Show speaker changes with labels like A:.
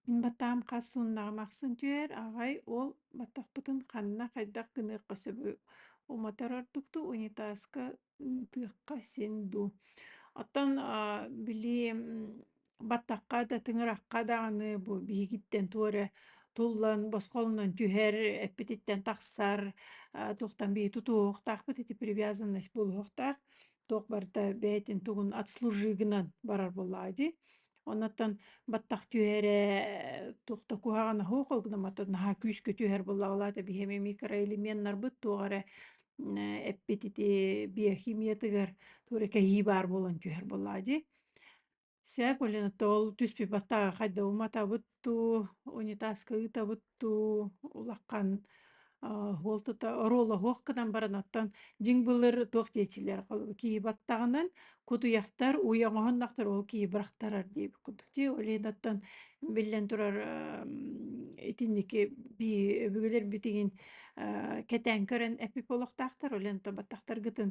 A: Мин баттаам хас сууннаҕым ахсын түһэр, аҕай уол баттахпытын ханна, хайдах гыныахха сөбүй? Умотар ордук дуу, унитазка ытыахха син дуу? Оттон аа, били баттахха да, тыҥырахха даҕаны бу биһигиттэн туох эрэ туллан босхолонон түһэр, эппититтэн тахсар, а, туохтан биһи тутуһуохтаахпыт ити привязанность булуһуохтаах. туох барыта бэйэтин тугун отслужи гынан барар боллаа ди оннотон баттах түһэрэ тухта куһаҕана хоох огномато наһаа күүскө түһэр боллаалаата биһэми микроэлеменнарбыт туох эрэ эппит ити биохимиятыгар тура кэһии баар буолан түһэр боллаа ди Сээпулина тоол түспүбатаҕа хайдабыматабыт дуу, унитазка ыытабыт дуу, улахан уол тута оруолаһуох гынан баран оттон дьиҥ былыр туох диэчилэр киһи баттаҕынан кутуйахтар уй оҥоһуннахтар ол киһи бырахтарар диэбит курдук дии олен оттон биллэн турар итинники бии өбүгэлэр битигин кэтээн көрөн эпип олохтаахтар олен то баттахтаргытын